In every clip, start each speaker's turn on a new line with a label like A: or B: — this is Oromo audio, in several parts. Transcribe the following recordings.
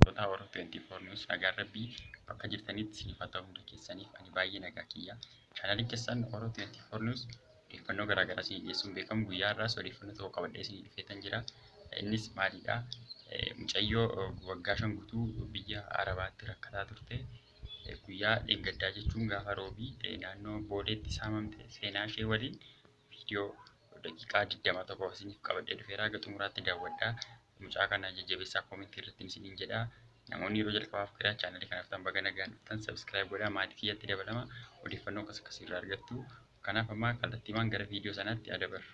A: Totaa Oro 24 News nagaan rabbii bakka jirtanitti isiniif haa ta'u hunda keessaniif ani baay'ee nagaa kiyya. Chaanaliin keessan Oro 24 News odeeffannoo garaa garaa isinii dhiyeessuun beekamu guyyaa har'aas odeeffannoo tokko qabadhee isinii dhufeetan jira. Innis maalidha? Mucayyoo waggaa shan guutuu biyya Arabaatti rakkataa turte guyyaa dheengaddaa jechuun gaafa roobii naannoo booleetti saamamte seenaa ishee waliin video daqiiqaa 20 tokko isiniif qabadhee dhufeera haga xumuraatti daawwadha. Mucaa kana jajjabeessaa koomentii irratti isiniin jedha. Namoonni yeroo jalqabaaf gara chaanalii kanaaf tan baga nagaan dhuftan subscribe godhaa maatii kiyyatti dabalama odeeffannoo akkas akkasii irraa argattu. Kanaaf amma kallattiimaan gara viidiyoo sanaatti adabarra.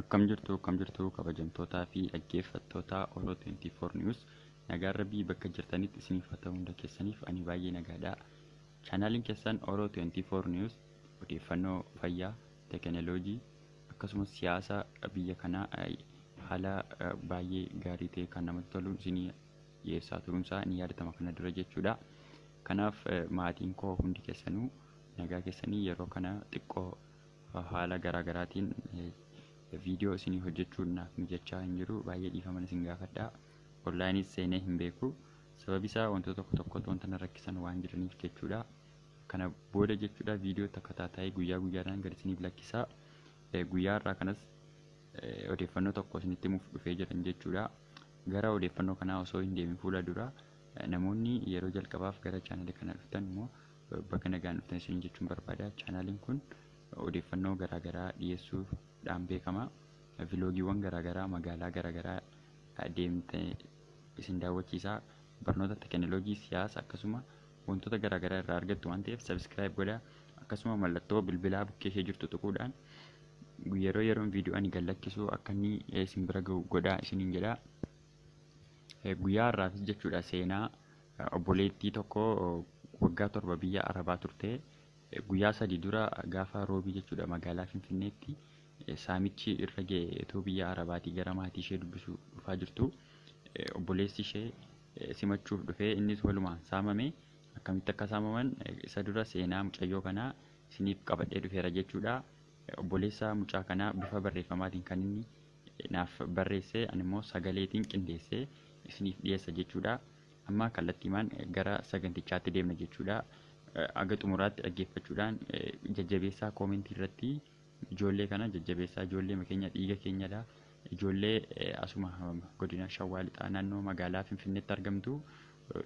A: Akkam jirtu akkam jirtu kabajamtootaa fi dhaggeeffattoota Oro 24 News nagaan rabbii bakka jirtanitti isiniif haa ta'u hunda keessaniif ani baay'ee nagaadha. Chaanaalin kessan Oro 24 News odeeffannoo fayyaa, tekeneloojii akkasumas siyaasa biyya kanaa haala baay'ee gaarii ta'e kan namatti toluun isinii dhiyeessaa turuunsaa ni yaadatama kana dura jechuudha. Kanaaf maatiin koo hundi kessanuu nagaa kessanii yeroo kana xiqqoo haala garaa garaatiin viidiyoo isinii hojjechuun naaf mijachaa hin jiru baay'ee dhiifaman isin gaafadha. Onlineis seenee hin beeku. Sababi isaa wantoota tokko tokkotu wanta na rakkisan waan jiraniif jechuudha. Kana booda jechuudha viidiyoo takka taataa'ee guyyaa guyyaadhaan gad isiniif lakkisaa. Eh, Guyyaa har'aa kanas eh, odeeffannoo tokko isinitti himuuf dhufee jiran jechuudha. Gara odeeffannoo kanaa osoo hin deemin fuula dura eh, namoonni yeroo jalqabaaf gara chaanalii kana dhuftan immoo eh, baga nagaan dhuftan isiniin jechuun barbaada. Chaanaliin kun odeeffannoo garaagaraa dhiyeessuudhaan beekama. Viloogiiwwan garaagaraa magaalaa garaagaraa deemte isin daawwachiisa. Barnoota teekinooloojii, siyaasa akkasuma wantoota garaa garaa irraa argattu waan ta'eef sabiskiraayib godhaa. Akkasuma mallattoo bilbilaa bukkee ishee jirtu tuquudhaan yeroo yeroon viidiyoo ani gad lakkisu akka inni eh, isin bira ga'u godhaa isiniin jedha. Eh, Guyyaa har'aafis jechuudha seenaa eh, obboleettii tokko eh, waggaa torba biyya Arabaa turte. Eh, Guyyaa sadii dura gaafa roobii jechuudha magaalaa Finfinneetti Saamichi irra ga'e otoo biyya Arabaatii gara maatii ishee dubbisuu dhufaa jirtuu obboleessi ishee simachuuf dhufee innis walumaan saamame. Akkamitti akka saamaman isa dura seenaa mucayyoo kanaa isiniif qabadhee dhufeera jechuudha. Obboleessa mucaa kanaa bifa barreeffamaatiin kan inni naaf barreesse ani immoo sagaleetiin qindeessee isiniif dhiyeessa jechuudha. Amma kallattiimaan gara sagantichaatti deemna jechuudha. Aga xumuraatti dhaggeeffachuudhaan jajjabeessaa koomentii irratti Ijoollee kana jajjabeessaa ijoolleema keenya dhiiga keenyadha. Ijoollee asuma godina Shawwaa Lixaa naannoo magaalaa Finfinneetti argamtu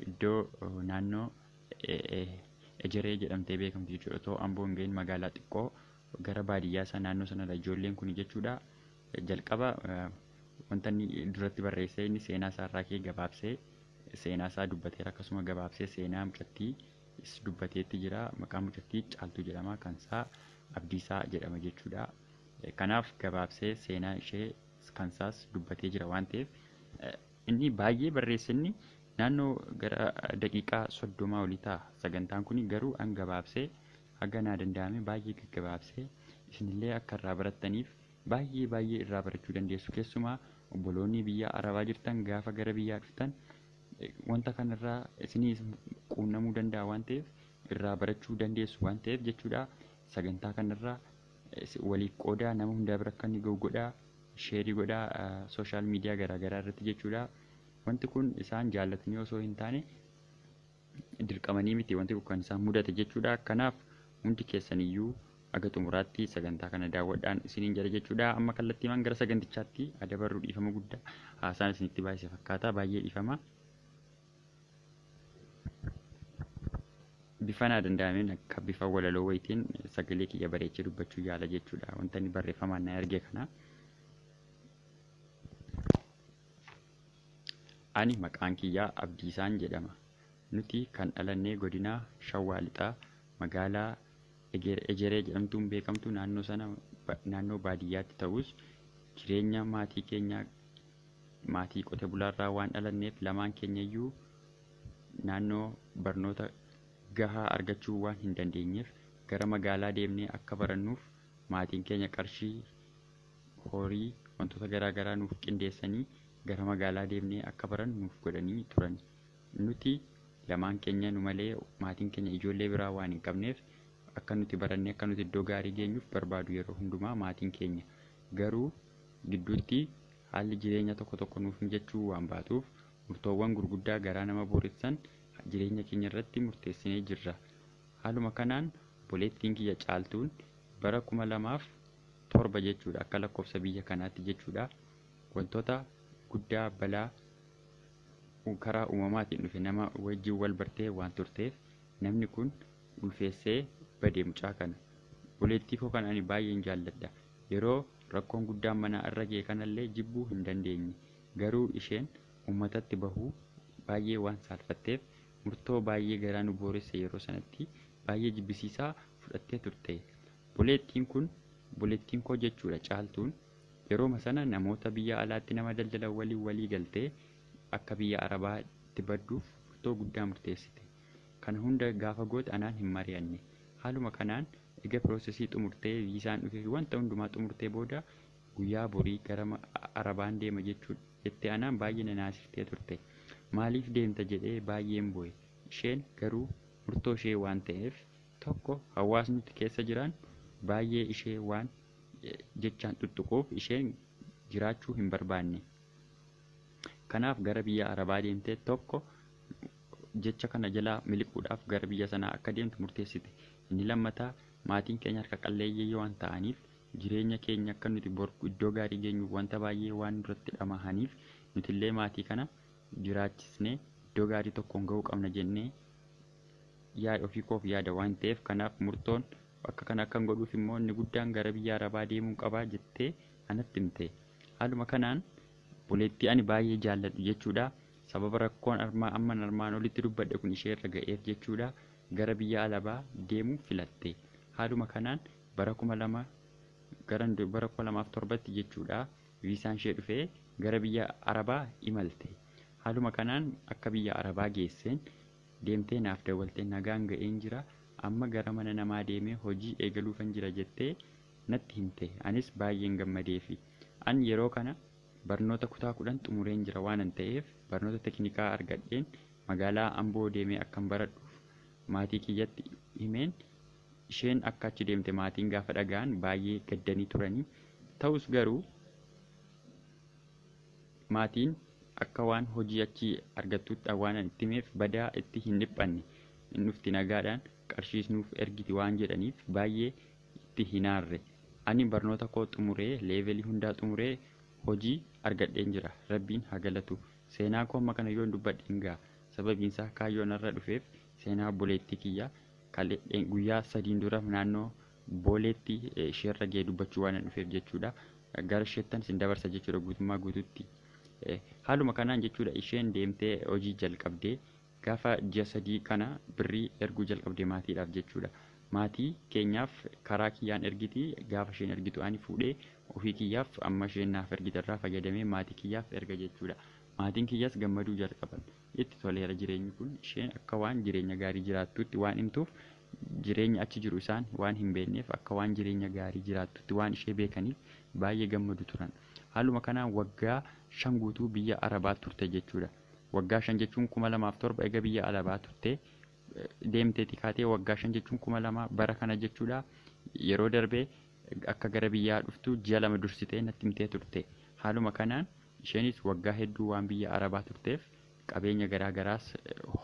A: iddoo naannoo Ejeree jedhamtee beekamtu jechuudha. Otoo Amboo hin ga'iin magaalaa xiqqoo gara baadiyyaa isaa naannoo sanadha ijoolleen kun jechuudha. Jalqaba wanta inni duratti barreessee inni seenaa isaa irraa kee gabaabsee seenaa isaa dubbateera akkasuma gabaabsee seenaa mucattii dubbateetti jira. Maqaan mucattii Caaltuu jedhama. Kan isaa Abdiisaa jedhama jechuudha. Kanaaf gabaabsee seenaa ishee kansaas dubbatee jira waan ta'eef inni baay'ee barreesse inni naannoo gara daqiiqaa soddomaa olii ta'a. Sagantaan kun garuu an gabaabsee haga naa danda'ame baay'ee gaggabaabsee isinillee akka irraa barattaniif baay'ee baay'ee irraa barachuu dandeessu keessumaa obboloonni biyya arabaa jirtan gaafa gara biyyaa dhuftan wanta kanarraa isinis quunnamuu danda'a waan ta'eef irraa barachuu dandeessu waan ta'eef jechuudha. Sagantaa kanarraa waliif qoodaa nama hundaa bira akka inni ga'u godhaa sheerii godhaa sooshaal miidiyaa garaagaraa irratti jechuudha. Wanti kun isaan jaallatanii osoo hin taane dirqamanii miti wanti kun kan isaan mudate jechuudha. Kanaaf hundi keessaniyyuu aga xumuraatti sagantaa kana daawwadhaan isiniin jedha jechuudha. Amma kallattiimaan gara sagantichaatti adabarru dhiifama guddaa haasaan isinitti baay'ise fakkaata baay'ee dhiifama. bifa naa danda'ameen akka bifa walaloo wayitiin sagalee kiyya bareechee dubbachuu yaala jechuudha. Wanta inni barreeffamaan na erge kana. Ani maqaan kiyyaa Abdiisaan jedhama. Nuti kan dhalannee godina Shawaa Lixaa magaalaa Eger- Ejeree jedhamtuun beekamtu naannoo sana ba- naannoo baadiyyaatti ta'us jireenya maatii keenyaa Maatii qote bulaarraa waan dhalanneef lamaan keenyayyuu naannoo barnoota gahaa argachuu waan hin dandeenyeef gara magaalaa deemnee akka barannuuf maatiin keenya qarshii, horii, wantoota garaa garaa nuuf qindeessanii gara magaalaa deemnee akka barannu nuuf godhanii turani. Nuti lamaan keenyanu malee maatiin keenya ijoollee biraa waan hin qabneef akka nuti barannee akka nuti iddoo gaarii geenyuuf barbaadu yeroo hundumaa maatiin keenya. Garuu gidduutti haalli jireenya tokko tokko nuuf mijachuu waan baatuuf murtoowwan gurguddaa garaa nama booressan jireenya keenya irratti murteessinee jirra. Haaluma kanaan obboleettiin kiyya Caaltuun bara 2007 jechuudha akka lakkoofsa biyya kanaatti jechuudha wantoota guddaa balaa karaa uumamaatiin dhufe nama wajjin wal bartee waan turteef namni kun ulfeessee bade mucaa kana. Obboleettii koo kana ani baay'een jaalladha. Yeroo Rakkoon guddaan manaa irra ga'e kanallee jibbuu hin dandeenye. Garuu isheen uummatatti bahuu baay'ee waan saalfatteef murtoo baay'ee garaa nu booresse yeroo sanatti baay'ee jibbisiisaa fudhattee turte. Boleettiin kun boleettiinkoo jechuudha Caaltuun yerooma sana namoota biyya alaatti nama daldalan waliin walii galtee akka biyya Arabaa itti badduuf murtoo guddaa murteessite. Kana hunda gaafa goote anaan hin mari'anne. Haaluma kanaan ega process xumurtee viisaan dhufefi wanta hundumaa xumurtee booda guyyaa borii gara Arabaan deema jechuudha jettee anaan baay'ee na naasiftee turte. Maaliif deemta jedhee baay'een boo'e. Isheen garuu murtoo ishee waan ta'eef tokko hawaasni nuti keessa jiraannu baay'ee ishee waan jechaan xuxxuquuf isheen jiraachuu hin barbaanne. Kanaaf gara biyya Arabaa deemtee tokko jecha kana jalaa miliquudhaaf gara biyya sanaa akka deemtu murteessite. Inni lammataa maatiin keenya harka qalleeyyii waan ta'aniif jireenya keenya akka nuti bor iddoo gaarii geenyuuf wanta baay'ee waan nurratti dhamahaniif nutillee maatii kana jiraachisnee iddoo gaarii tokkoon ga'uu qabna jennee yaada ofii koof yaada waan ta'eef kanaaf murtoon akka kana akkan godhuuf immoo inni guddaan gara biyya Arabaa deemuun qabaa jettee anatti himte. Haaluma kanaan obboleettii ani baay'ee jaalladhu jechuudha. Sababa rakkoon armaa amman armaan olitti dubbadhe kun ishee irra ga'eef jechuudha gara biyya alabaa deemuu filatte. Haaluma kanaan bara 2000 gara bara 2007tti jechuudha viisaan ishee dhufee gara biyya arabaa imalte. Haaluma kanaan akka biyya arabaa geesseen deemtee naaf dawwaltee nagaan ga'een jira amma gara mana namaa deemee hojii eegaluufan jira jettee natti himte. Anis baay'een gammadeefi. An yeroo kana barnoota kutaa 10 xumureen jira waanan ta'eef barnoota tekinikaa argadheen magaalaa Amboo deemee akkan baradhuuf maatii kiyyatti himeen isheen akka achi deemte maatiin gaafa dhaga'an baay'ee gaddanii turanii. Ta'us garuu maatiin akka waan hojii achii argattuutti waanan itti himeef badaa itti hin dhiphanne. Hin dhufti nagaadhaan qarshiis nuuf ergiti waan jedhaniif baay'ee itti hin aarre. Ani barnoota koo xumuree leevelii hundaa xumuree hojii argadheen jira. Rabbiin haa galatu. Seenaa koo amma kana yoon dubbadhe hin ga'a. Sababiin isaa kaayyoon har'a dhufeef seenaa obboleettii kiyyaa kale guyyaa sadiin dura naannoo booleetti isheerra ga'e dubbachuu waanan dhufeef jechuudha. Gara isheettan isin dabarsa jechuudha guutummaa guututti. Haaluma kanaan jechuudha isheen deemtee hojii jalqabdee Gaafa ji'a sadii kana birrii erguu jalqabde maatiidhaaf jechuudha. Maatii keenyaaf karaa kiyyaan ergiti gaafa isheen ergitu ani fuudhee ofii kiyyaaf amma isheen naaf ergite irraa fayyadamee maatii kiyyaaf erga jechuudha. Maatiin kiyyas gammaduu jalqaban. Itti toleera jireenyi kun. Isheen akka waan jireenya gaarii jiraattuutti waan himtuuf jireenyi achi jiru isaan waan hin beekneef akka waan jireenya gaarii jiraattuutti waan ishee beekaniif baay'ee gammadu turan. Haaluma kanaan waggaa shan guutuu biyya Arabaa turte jechuudha. Waggaa shan jechuun 2007 ega biyya alabaa turtee deemteeti kaatee waggaa shan jechuun 2000 bara kana jechuudha yeroo darbee akka gara biyyaa dhuftu ji'a lama dursitee natti himtee turte haaluma kanaan isheenis waggaa hedduu waan biyya arabaa turteef qabeenya garaa garaas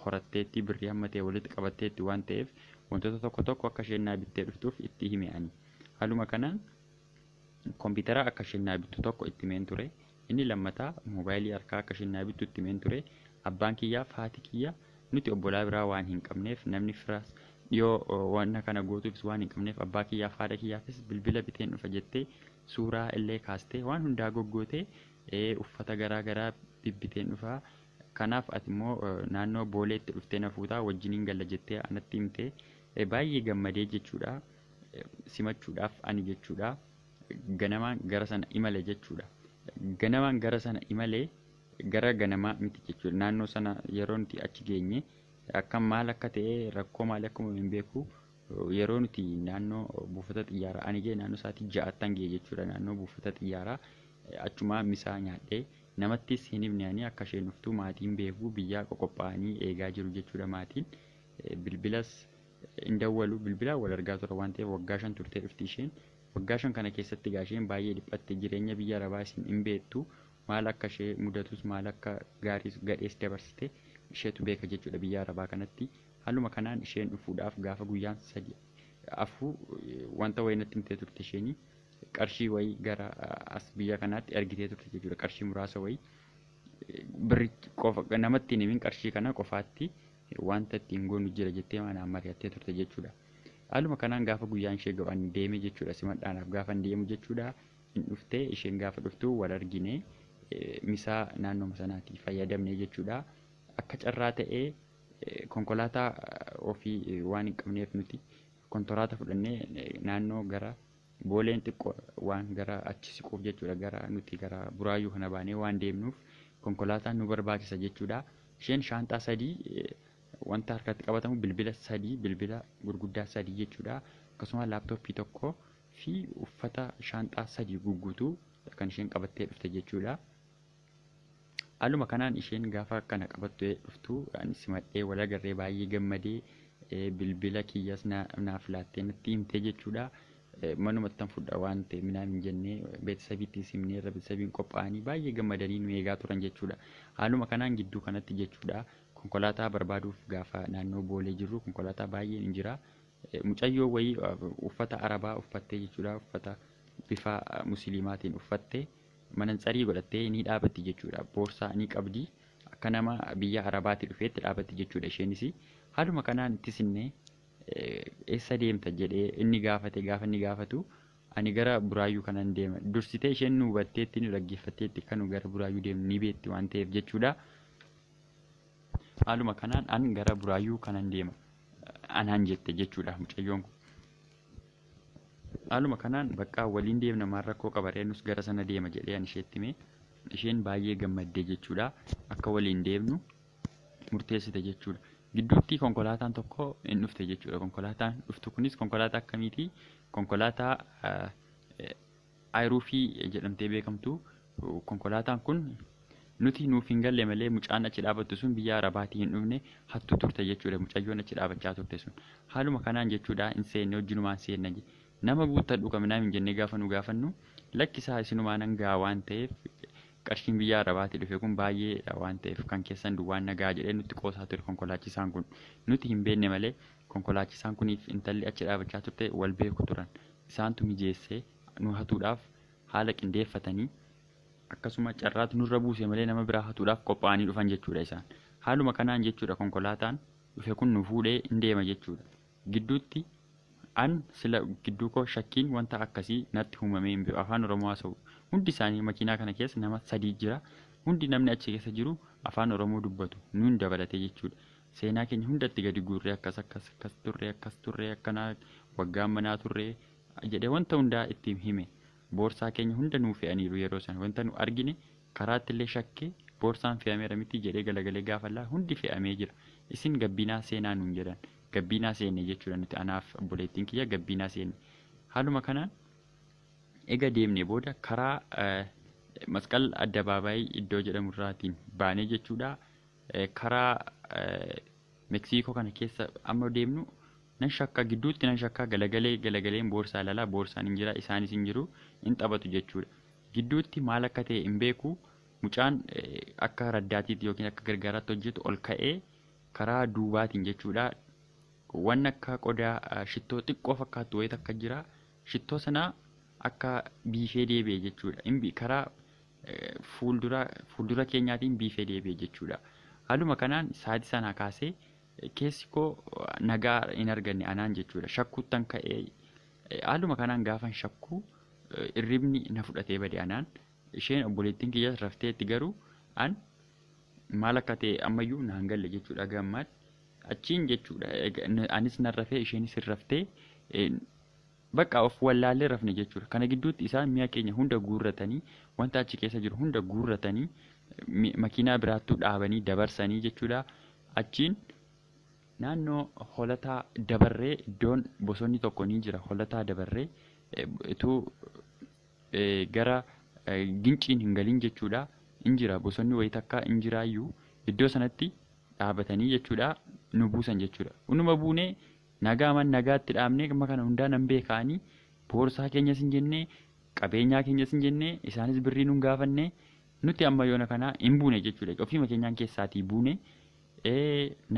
A: horatteetti birrii hamma ta'e walitti qabatteetti waan ta'eef wantoota tokko tokko akka isheen naa bittee dhuftuuf itti hime ani haaluma kanaan Kompiitara akka isheen naa bittu tokko itti himeen ture. Inni lammataa moobaayilii harkaa akka isheen naa bittu itti himeen ture. Abbaan kiyyaa fi haati kiyya nuti obbolaa biraa waan hin qabneef namni firas dhiyoo wanna kana gootuufis waan hin qabneef abbaa kiyyaa fi haadha kiyyaafis bilbila biteen dhufa jettee suuraa illee kaastee waan hundaa goggootee ee, uffata garaa garaa bibbiteen dhufa kanaaf ati immoo eh, naannoo booleetti dhuftee na fuutaa wajjiniin galla jettee anatti himte Eh, baay'ee gammadee jechuudha. simachuudhaaf ani jechuudha ganamaan gara sana imale jechuudha. Ganamaan gara sana imale gara ganamaa miti jechuudha. Naannoo sana yeroo nuti achi geenye akka maal akka ta'e rakkoo maali akka uumame hin beeku. Yeroo nuti naannoo buufata xiyyaaraa ani ga'e naannoo sa'aatii ja'attan ga'e jechuudha. Naannoo buufata xiyyaaraa achumaa misaa nyaadhee namattis hin himne ani akka isheen dhuftu maatiin beeku biyyaa qoqophaa'anii eegaa jiru jechuudha maatiin. Bilbilas hin dawwalu bilbilaan wal argaa tura waan ta'eef waggaa shan turtee dhufti isheen waggaa shan kana keessatti egaa isheen baay'ee dhiphatte jireenya biyya arabaa isin hin beektu maal akka ishee mudatus maal akka gaariis gadhees dabarsite isheetu beeka jechuudha biyya arabaa kanatti haaluma kanaan isheen dhufuudhaaf gaafa guyyaan sadi afuu wanta wayii natti himtee turte isheenii qarshii wayii gara as biyya kanaatti ergitee turte jechuudha qarshii muraasa wayii birri qofa namatti hin himin qarshii kana qofaatti Wanta ittiin goonu jira jettee anaan mari'attee turte jechuudha. Haaluma kanaan gaafa guyyaan ishee ga'u ani deeme jechuudha simadhaanaaf gaafan deemu jechuudha. Hin dhufte isheen gaafa dhuftu wal argine misaa naannoma sanaati fayyadamne jechuudha. Akka carraa ta'ee konkolaataa ofii waan hin qabneef nuti kontoraata fudhannee naannoo gara Booleen xiqqo waan gara achi siquuf jechuudha gara nuti gara buraayyuu kana baanee waan deemnuuf konkolaataan nu barbaachisa jechuudha. Isheen shaanxaa sadii wanta harkatti qabatamu bilbila sadii bilbila gurguddaa sadii jechuudha. Akkasuma laaptooppii tokko fi uffata shaanxaa sadii gugguutuu kan isheen qabattee dhufte jechuudha. Haaluma kanaan isheen gaafa kana qabattu dhuftu ani simadhee wal agarree baay'ee gammadee eh, bilbila kiyyas na- naaf laattee natti himtee jechuudha. Eh, Manumatti tan fudha waan ta'e minaam hin jenne beeksisabiitti hin simne irra beeksisabiin qophaa'anii baay'ee gammadanii nu eegaa turan jechuudha. Haaluma kanaan gidduu kanatti jechuudha konkolaataa barbaaduuf gaafa naannoo boolee jirru konkolaataa baay'een hin jira. Eh, Mucayyoo wayii eh, uffata arabaa uffattee jechuudha uffata bifa eh, musliimaatiin uffattee. Manantsarii godhattee ni dhaabatti jechuudha. Boorsaa ni qabdi. Akka nama biyya Arabaatti dhufeetti dhaabatti jechuudha isheenis. Haaluma kanaan itti sinne eessa deemta jedhee inni gaafate gaafa inni gaafatu ani gara buraayyuu kanan deema. Dursitee isheen nu hubatteetti nu dhaggeeffatteetti akka nu gara buraayyuu deemnu ni beekti waan ta'eef jechuudha. Haaluma kanaan an gara buraayyuu kanan deema anaan jette jechuudha mucayyoon kun. Haaluma kanaan baqqaa waliin deemna maal rakkoo qaba ree nus gara sana deema jedhee an isheetti hime. Isheen baay'ee gammaddee jechuudha. Akka waliin deemnu murteessite jechuudha. Gidduutti konkolaataan tokko hin dhufte jechuudha. Konkolaataan dhuftu kunis konkolaataa akkamiiti? Konkolaataa Ayruufii jedhamtee beekamtu konkolaataan kun nuti nuuf hin galle malee mucaan achi dhaabattu sun biyya Arabaatii hin dhufne hattuu turte jechuudha mucayyoon achi dhaabachaa turte sun haaluma kanaan jechuudha hin seenne wajjinumaan seenna je nama guuttadhu kaminaa hin jennee gaafa nu gaafannu lakkisaa isinumaa nan ga'a waan ta'eef qarshiin biyya Arabaatii dhufe kun baay'eedha waan ta'eef kan keessan duwwaan nagaa jedhee nutti qoosaa ture konkolaachisaan kun nuti hin beenne malee konkolaachisaan kuniif intalli achi dhaabachaa turte wal beeku turan isaantu mijeesse nu hatuudhaaf haala qindeeffatanii akkasuma carraatu nurra buuse malee nama biraa hatuudhaaf qophaa'anii dhufan jechuudha isaan. Haaluma kanaan jechuudha konkolaataan dhufe kun nu fuudhee in deema jechuudha. Gidduutti an sila gidduu koo shakkiin wanta akkasii natti humamee hin beeku afaan Oromoo haasa'u. Hundi isaanii makiinaa kana keessa nama sadii jira. Hundi namni achi keessa jiru afaan Oromoo dubbatu nuun dabalatee jechuudha. Seenaa keenya hunda itti gadi guurree akkas akkas akkas turre akkas turre akkanaa waggaa manaa turre jedhee wanta hundaa itti hime. Boorsaa keenya hunda nuu fe'aniiru yeroo sana wanta nu argine karaatti illee shakkee boorsaan fe'ameera miti jedhee galagalee gaafa laa hundi fe'amee jira. Isin gabbiinaa seenaa nuun jedhan. Gabbiinaa seenne jechuudha nuti anaaf obboleettiin kiyya gabbiinaa seenne. Haaluma kanaan ega deemnee booda karaa masqal addabaabaayii iddoo jedhamu irraatiin baanee jechuudha karaa Meksiikoo kana keessa amma deemnu nan shakka gidduutti nan shakka galagalee galagaleen boorsaa ilaalaa boorsaan hin jira isaanis hin jiru hin taphatu jechuudha. Gidduutti maal akka ta'e hin beeku mucaan akka raddaatiitti yookiin akka gargaaraatti hojjetu ol ka'ee karaa duubaatiin jechuudha. Waan akka qodaa shittoo xiqqoo fakkaattu wayita akka jira shittoo sana akka biifee deebi'e jechuudha. Karaa fuuldura fuuldura keenyaatiin biifee deebi'e jechuudha. Haaluma kanaan sa'aatii sanaa kaasee keessi koo nagaa hin arganne anaan jechuudha. Shakkuuttan ka'ee haaluma kanaan gaafan shakkuu irribni na fudhatee bade anaan. Isheen obboleettiin kiyyaas rafteetti garuu an maal akka ta'e ammayyuu naan galle jechuudha gammaatti. Achiin jechuudha anis nan rafee isheenis hin raftee Baqqa of wallaallee rafne jechuudha. Kana gidduutti isaan mi'a keenya hunda guurratanii, wanta achi keessa jiru hunda guurratanii, mi- makiinaa biraattuu dhaabanii dabarsanii jechuudha. Achiin naannoo holataa dabarree iddoon bosonni tokko ni jira. Holataa dabarree eh, utuu eh, gara eh, ginciin hin galin jechuudha. In jira bosonni wayii takka in jiraayyuu iddoo sanatti dhaabatanii jechuudha nu buusan jechuudha. Unuma buunee Nagaaman nagaatti dhaabnee dhimma kana hundaa nan beeka ani. Boorsaa keenyas hin jenne, qabeenyaa keenyas hin jenne, isaanis birrii nun gaafanne. Nuti amma yoona kana hin buune jechuudha. Ofiima keenyaan keessaatii buune.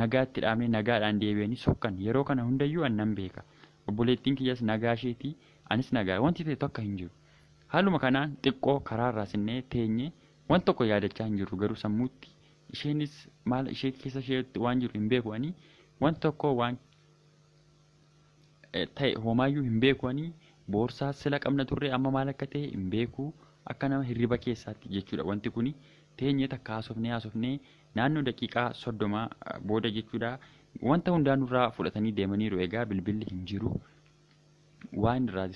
A: Nagaatti dhaabnee nagaadhaan deebi'anii sokkan. Yeroo kana hundayyuu ani nan beeka. Obboleettiin kiyyas nagaa isheeti, anis nagaa. Wanti ta'e tokko hin jiru. Haaluma kanaan xiqqoo karaarraa sinnee teenye. Waan tokko yaadachaa hin jirru garuu sammuutti Isheenis maal ishee keessa isheetti waan jiru hin beeku ani waan tokko waan ta'e homaayyuu hin beeku ani boorsaa sila qabna turre amma maal akka ta'e hin beeku akka nama hirriba keessaatti jechuudha wanti kuni teenye takka haasofnee haasofnee naannoo daqiiqaa soddoma booda jechuudha wanta hundaa nurraa fudhatanii deemaniiru egaa bilbilli hin jiru waan irraa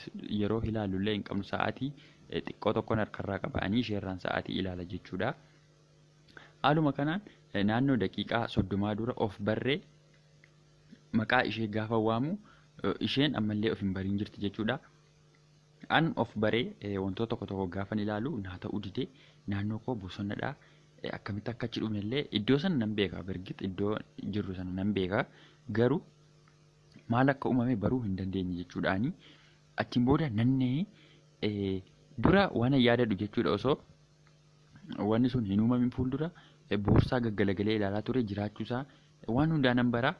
A: yeroo ilaallu illee hin qabnu sa'aatii xiqqoo tokkoon harkarraa qaba ani isheerraan sa'aatii ilaala jechuudha. Haaluma kanaan naannoo daqiiqaa soddomaa dura of barree maqaa ishee gaafa waamu isheen ammallee of hin bariin jirti jechuudha. An of baree wantoota tokko tokko gaafan ilaalu naa ta'uu didee naannoo koo bosonadha. Akkamitti akka achi dhufne illee iddoo sana nan beeka birgit iddoo jirru sana nan beeka garuu maal akka uumame baruu hin dandeenye jechuudhaani. Achiin booda nannee dura waan yaadadhu jechuudha osoo wanni sun hin uumamin fuuldura boorsaa gaggalagalee ilaalaa ture jiraachuusaa waan hundaa nan bara.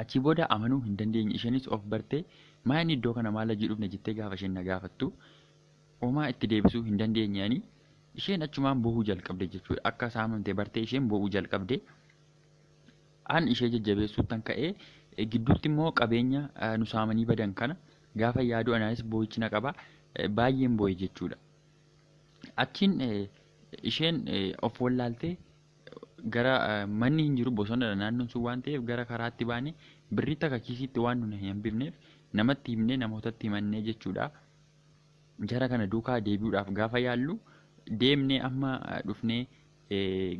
A: Achii booda amanuu hin dandeenye isheenis of bartee maa inni iddoo kana maal hojii dhufne jettee gaafa isheen na gaafattu homaa itti deebisuu hin dandeenye ani isheen achumaan boo'uu jalqabde jechuudha akka saamamte bartee isheen boo'uu jalqabde an ishee jajjabeessuuttan ka'ee gidduutti immoo qabeenya nu saamanii badan kana gaafa yaadu anaanis boo'ichi na qaba baay'een boo'e jechuudha. Achiin isheen of wallaaltee gara manni hin jiru bosonadha naannoon sun waan ta'eef gara karaatti baane birrii takka kiisiitti waan nuna hin hambifneef namatti himnee namootatti himannee jechuudha. Jara kana duukaa deebi'uudhaaf gaafa yaallu deemnee amma dhufnee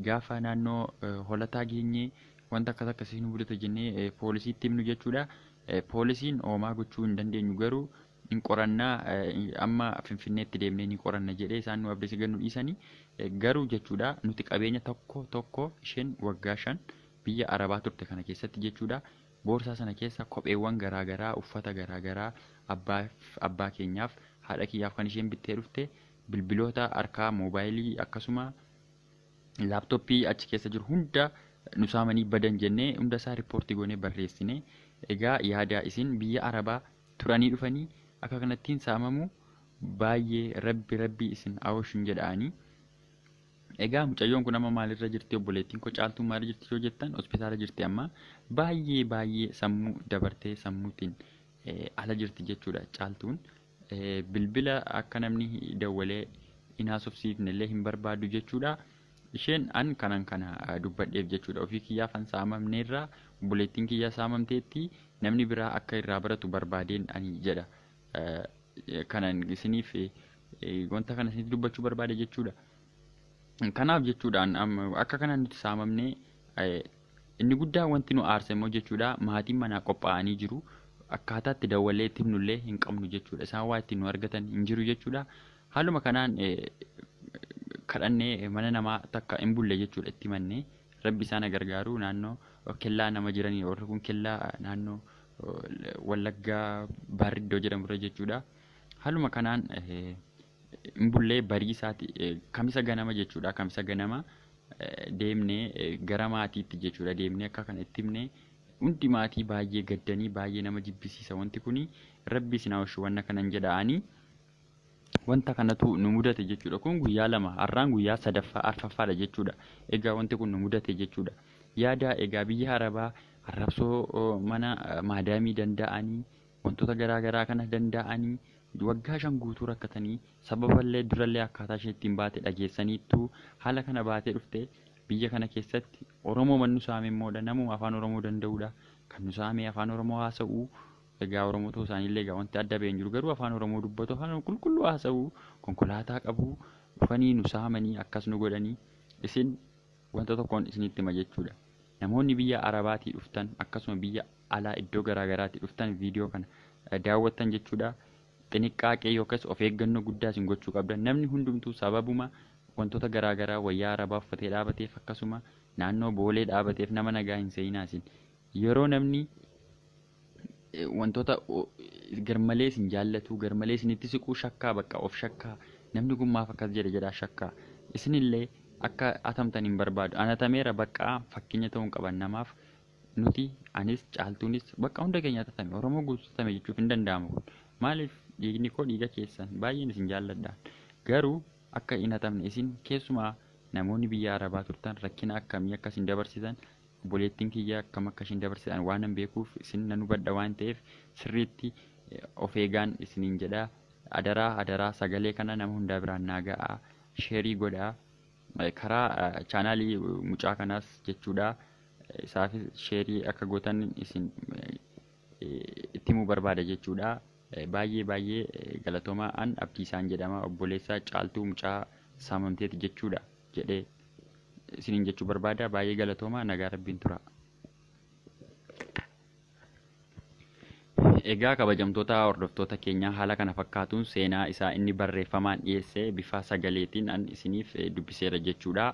A: gaafa naannoo holataa geenyee wanta akkas akkasii nu mudata jennee poolisiitti himnu jechuudha. Poolisiin hoomaa gochuu hin dandeenyu garuu hin qoranna amma finfinneetti deemnee ni qoranna jedhee isaan nu abdese gannu dhiisanii garuu jechuudha nuti qabeenya tokko tokko isheen waggaa shan biyya arabaa turte kana keessatti jechuudha boorsaa sana keessa kopheewwan garaagaraa uffata garaagaraa abbaa keenyaaf haadha kiyyaaf kan isheen bittee dhufte bilbiloota harkaa moobaayilii akkasuma laaptooppii achi keessa jiru hunda nu saamanii badan jennee hunda isaa riippoortii goonee barreessine egaa yaada isin biyya arabaa turanii dhufanii akka kanattiin saamamuu baayyee rabbi rabbii isin aoshin jedha ani Egaa mucayyoon kun amma maalirra jirti obboleettiin koo caaltuun maalirra jirti yoo jettan hospitaala jirti amma baay'ee baay'ee sammuu dabartee sammuutiin ala jirti jechuudha caaltuun bilbila akka namni dawwalee hin haasofsiifne illee hin barbaadu jechuudha. Isheen an kanan kana dubbadheef jechuudha. Ofii kiyyaafan saamamneerra, obboleettiin kiyya saamamteetti, namni biraa akka irraa baratu barbaadeen ani jedha. Kanan isiniif wanta kana isinitti dubbachuu barbaade jechuudha. Kanaaf jechuudhaan akka kanaan nuti saamamne inni guddaa wanti nu aarse immoo jechuudha maatiin manaa qophaa'anii jiru. Akkaataa itti dawwallee itti himnullee hin qabnu jechuudha. Isaan waa ittiin nu argatan hin jiru jechuudha. Haaluma kanaan kadhannee mana namaa takka hin bulle jechuudha itti himannee rabbi isaan gargaaru naannoo kellaa nama jiranii warri kun kellaa naannoo wallaggaa baarriddoo jedhamurra jechuudha. Haaluma kanaan hin bullee barii isaati kamisa ganama jechuudha kamisa ganama deemnee gara maatiitti jechuudha deemnee akka kana itti himnee hundi maatii baay'ee gaddanii baay'ee nama jibbisiisa wanti kuni rabbi isin hawashu wanna kanan jedha ani. Wanta kanatu nu mudate jechuudha. Kun guyyaa lama, har'aan guyyaa sadaffaa, arfaffaadha jechuudha. Egaa wanti kun nu mudate jechuudha. Yaada egaa biyya Arabaa arrabsoo mana maadaamii danda'anii wantoota garaa garaa kana danda'anii waggaa shan guutuu rakkatanii sababallee durallee akkaataa ishee ittiin baate dhageessaniittu haala kana baatee dhufte biyya kana keessatti Oromoo mannu saame immoodha namuma afaan Oromoo danda'uudha kan nu saame afaan Oromoo haasa'u Egaa Oromoo ta'uu isaanii illee egaa wanti adda ba'e hin jiru. Garuu afaan Oromoo dubbatu, afaan Oromoo qulqulluu haasa'u, konkolaataa qabu, dhufanii nu saamanii akkas nu godhanii isin wanta tokkoon isinitti hima jechuudha. Namoonni biyya Arabaatii dhuftan akkasuma biyya alaa iddoo garaa garaatii dhuftan viidiyoo kana eh, daawwattan jechuudha. Xiniqqaaqee yookaas of eeggannoo guddaa isin gochuu qabdan. Namni hundumtuu sababuma wantoota garaa garaa wayyaa Arabaa uffatee dhaabateef akkasuma naannoo boolee dhaabateef nama nagaa hin seeyinaa isin. Yeroo namni wantoota garmalee isin jaallatuu garmalee isinitti siquu shakkaa bakka of shakkaa namni kun maaf akkas jedhe jedhaa shakkaa isinillee akka atamtan hin barbaadu anatameera bakka fakkeenya ta'uun qaban namaaf nuti anis caaltuunis bakka hunda keenya atatame oromoo guutatame jechuuf hin danda'amu kun maaliif dhiigni koo dhiiga keessan baay'een isin jaalladhaan garuu akka hin atamne isin keessumaa namoonni biyya arabaa turtan rakkina akkamii akka isin dabarsitan Obboleettiin kiyya akkam akka ishiin dabarsitan waanan beekuuf isin nan hubadha waan ta'eef sirriitti of eegaan isiniin jedha. Adaraa adaraa sagalee kana nama hundaa biraan naa ga'aa. Sheerii godhaa. Karaa chaanaalii mucaa kanaas jechuudha. Isaafis sheerii akka gootan isin itti himuu barbaada jechuudha. Baay'ee baay'ee galatoomaa an abdiisaan jedhama obboleessa caaltuu mucaa saamamteeti jechuudha jedhee. isiniin jechuu barbaada baay'ee galatooma nagaa rabbiin tura. Egaa kabajamtoota hordoftoota keenyaa haala kana fakkaatuun seenaa isaa inni barreeffamaan dhiyeesse bifa sagaleetiin an isiniif dubbiseera jechuudha.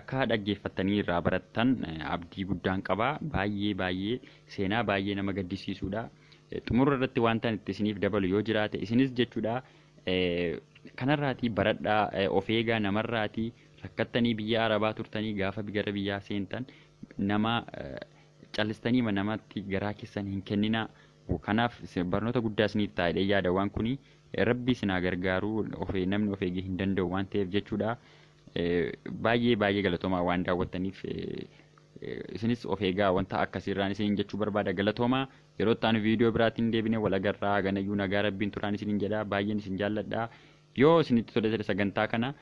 A: Akka dhaggeeffattanii irraa barattan abdii guddaan qaba. Baay'ee baay'ee seenaa baay'ee nama gaddisiisuudha. Xumura irratti wanta itti isiniif dabalu yoo jiraate isinis jechuudha kanarraatii baradhaa of eegaa namarraatii Rakkattanii biyya arabaa turtanii gaafa gara biyyaa seentan nama callistaniima namatti garaa keessan hin kenninaa. Kanaaf barnoota guddaa isiniif ta'a jedhee yaada waan kuni rabbi isin haa gargaaru namni of eegee hin danda'u waan ta'eef jechuudha. Baay'ee baay'ee galatoomaa waan daawwattaniif isinis of eegaa wanta akkasiirraan isiniin jechuu barbaada galatoomaa yeroo itti aanu viidiyoo biraatiin deebinee wal agarraa haganayyuu nagaa rabbiin turaan isiniin jedha baay'een isin jaalladha. Yoo isinitti tole ta'e sagantaa kana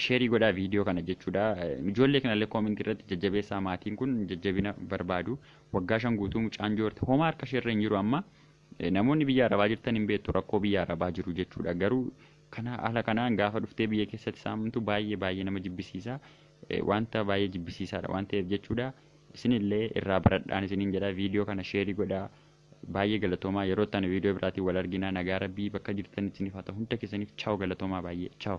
A: sheerii godhaa viidiyoo kana jechuudha. Ijoollee kanallee koomentii irratti jajjabeessaa maatiin kun jajjabina barbaadu. Waggaa shan guutuu mucaan joorti homaa harka isheerra hin jiru amma. Namoonni biyya arabaa jirtan hin beektu rakkoo biyya arabaa jiru jechuudha. Garuu kana haala kanaan gaafa dhuftee biyya keessatti saamamtu baay'ee baay'ee nama jibbisiisa. Wanta baay'ee jibbisiisaadha waan ta'eef jechuudha. Isinillee irraa baradhaan isiniin jedha viidiyoo kana sheerii godhaa. Baay'ee galatoomaa yeroo itti aanu viidiyoo biraatiin wal argina nagaa rabbii bakka jirtanitti isiniif haa ta'u hunda keessaniif chaaw galatoomaa baay'ee chaaw.